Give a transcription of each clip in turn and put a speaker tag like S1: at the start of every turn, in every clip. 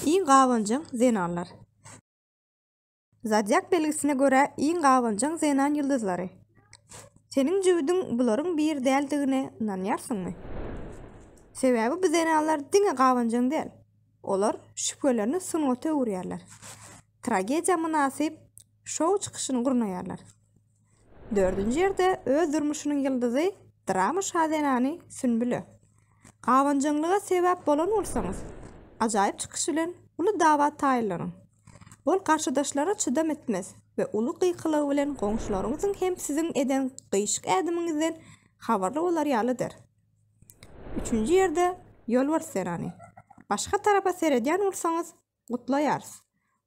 S1: Iň gabanjaň zenanlar. Zodiak belgisine görä iň gabanjaň zenan ýyldyzlary. Seniň jübüdiň bularyň biri däldigine ynanýarsyňmy? Sebäbi bu zenanlar diňe gabanjaň däl. Olar şübhelerini sungata öwürýärler. Tragediýa mynasyp şou çykyşyny gurnaýarlar. Dördünji ýerde öz durmuşynyň ýyldyzy drama şazenany Sünbüle. Gabanjaňlyga sebäp bolan bolsaňyz, ajaýyp çykyş bilen uly dawa taýynlanyň. Ol garşydaşlara çydam etmez we uly gykylygy bilen goňşularyňyzyň hem siziň eden gyýçyk ädimiňizden habarly bolar ýaly eder. Üçünji ýerde Ýolbars zenany. Başga tarapa seredýän bolsaňyz, gutlaýarys.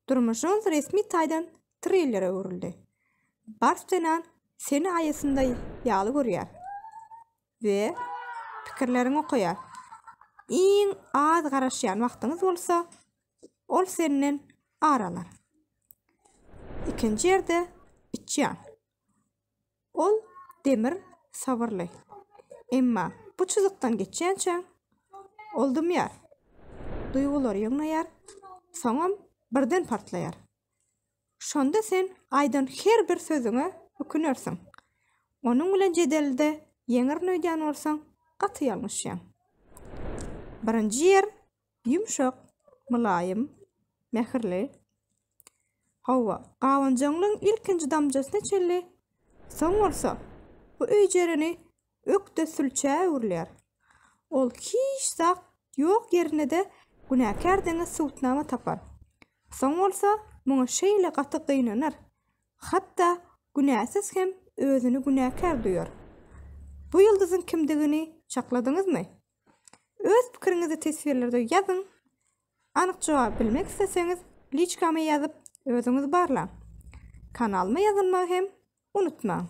S1: Durmuşyňyz resmi taýdan trillere öwrüldi. Bars zenan seni aýasynda ýaly görýär we pikirleriňi okaýar. Iň az garaşýan wagtyňyz bolsa, ol senden ar alar. Ikinji ýerde içýan. Ol Demir sabyrly. Emma bu çyzykdan geçýänçä, ol dymýar. Duýgulary ýygnaýar, soňam birden partlaýar. Şonda sen aýdan her bir sözüňe ökünersiň. Onuň bilen jedelde ýeňerin öýdýän bolsaň, gaty ýalňyşýaň. Birinji ýer Ýumşak, mylaýym, mähirli. Hawa, gabanjaňlygyň ilkinji damjasyna çenli, soň bolsa, bu öýjereni ökde sülçä öwrülýär. Ol hiç zat ýok ýerinde-de günäkär deňe subutnama tapar. Soň bolsa, muňa şeýle gaty gynanar, hatda günäsiz hem özüni günäkär duýar. Bu ýyldyzyň kimdigini çakladyňyzmy? Öz pikiriňizi teswirlerde ýazyň. Anyk jogap bilmek isleseňiz, liçkama ýazyp, özüňiz barlaň. Kanalyma ýazylmagy hem unutmaň.